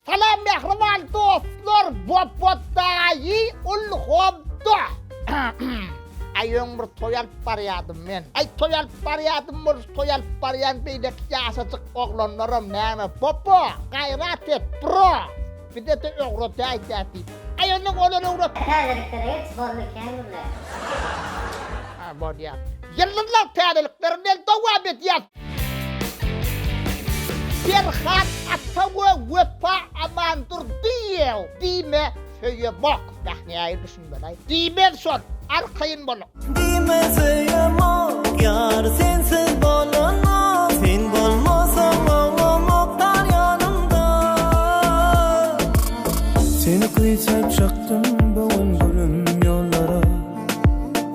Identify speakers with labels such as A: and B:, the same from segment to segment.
A: Salam mähriban dostlar Bobotdaýy ul hobda Aý öň bir toý alyp barýadym men Aý toý alyp barýadym bolus toý alyp barýan beýleki ýaşajyk oglanlaram näme Bobo gaýrat et bro bizede öwredäý dä diýip Aý onuň olar öwret Täzelikleri geç boldy ekeni bizde. Bolýar. Ýyldyzlar täzelikler bilen dowam edýär. Perhat ata we Wepa Amandurdyýew diýme söýemok. Bäh nähili düşünmeli-aý. Diýmez şol. Arkaýyn boluň. Diýme söýemok ýar sensiz bolanok Sen bolmasaň oňamok tar ýanymda Seni küýsäp çykdym bu gün gülüm ýollara.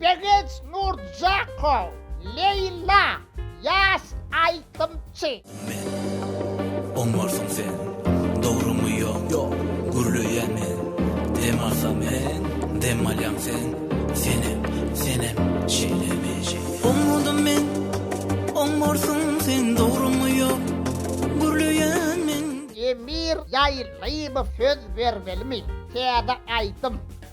A: Begenç Nurjakow, Leýla, ýaş aýdymçy. Men, Oňarsyň sen, dogrymy ýok, Gürleýän men, dem alsam men, Dem alýaň sen, senem, senem, Şeýle mi, şeýle. Oňardym men, Oňarsyň sen, dogrymy ýok, Gürleýän men. Emir Ýaýlyýew söz bermelimi? Täze aýdym.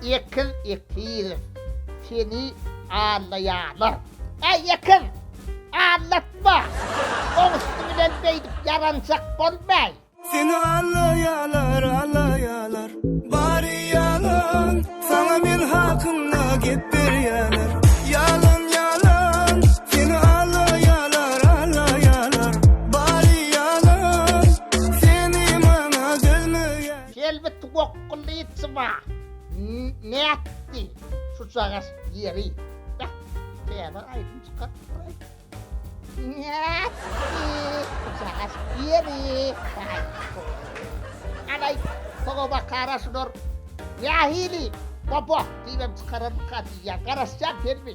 A: Ekiz ekiz seni allaýarlar. Äý ekiz! Allatma! Oň üsti bilen beýdip ýaranjak bolmaý. Seni allaýarlar, allaýarlar. Bary ýalan, saňa men hakynda gep berýärler. Ýalan, ýalan, seni allaýarlar, allaýarlar. Bary ýalan, seni maňa dözmeýärler. Selbit gok Kulyçba nätdi şuçagas ýeri? Beh, täze aýdym çykarypdyr-aý. Nätdi şuçagas ýeri? Garaý, sogaba garaşylar. Nähili? Bobok diýibem çykararmyka diýýän. Garaşýan serwi.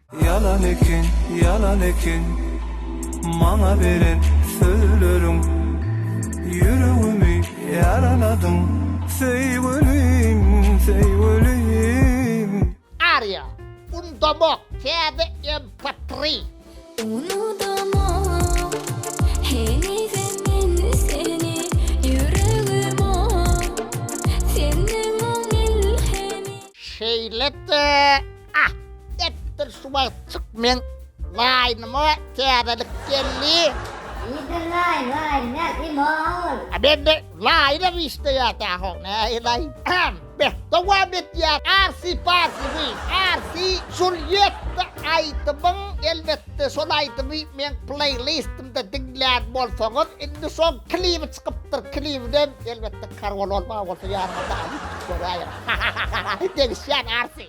A: Ýalan eken, ýalan eken, maňa beren sözleriň, Ýüregimi ýaraladyň, söýgülim, söýgülim. Aria, Undamak, täze MP3. Unudamok henize men seni Ýüregim oň, senden oň il hemi. Şeýle-de. Ah, etdir şu wagt çyk meň laýnyma täzelik geldi. Ýidir laýyn, laýyn näl, imo ol. A bende laýyna gişleýär tähow, näý laýyn. Äm, beh, dowam etýär, arsi parsi wi, arsi Julýetta aýdymyň, elbetde şol aýdymy meň pleýlistimde diňlän bolsaňyz, indi şoň klibi çykypdyr, klibinem, elbetde, karol bolmagy bolsa ýanyňyzda alyp, görä ýaly. Degişýän arsi.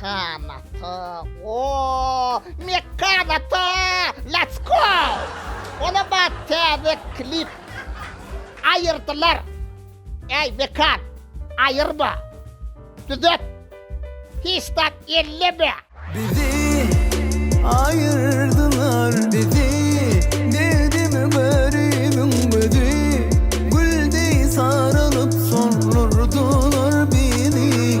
A: Kanata ooh mek kanata let's go Ola bat täze klip Aýyrdylar Äý mekan aýyrma Düzet Hiç zat elleme Bizi aýyrdylar bizi Derdim garybym özi Gül deý saralyp soldurdylar bizi.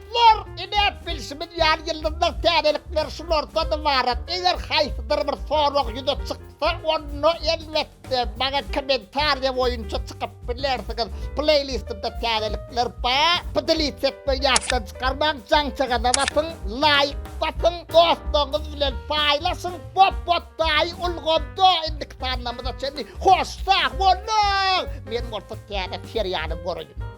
A: Lor, Iläp bilşimiz ýaly ýyldyzlar täzelikler şulardan ybarat. Eger haýsydyr bir sorag ýüze çyksa, onda elbetde maňa kommentariýa boýunça çykyp bilersiňiz. Pleýlistimde täzelikler bar. Pdlits etmegi ýatdan çykarmaň, jaňçagaza basyň, laýk basyň, dostlaryňyz bilen paýlaşyň. Bop bot daýy ulgamda indiki sanlamyza çenli hoş sag boluň! Men bolsa täze serialy göreýin.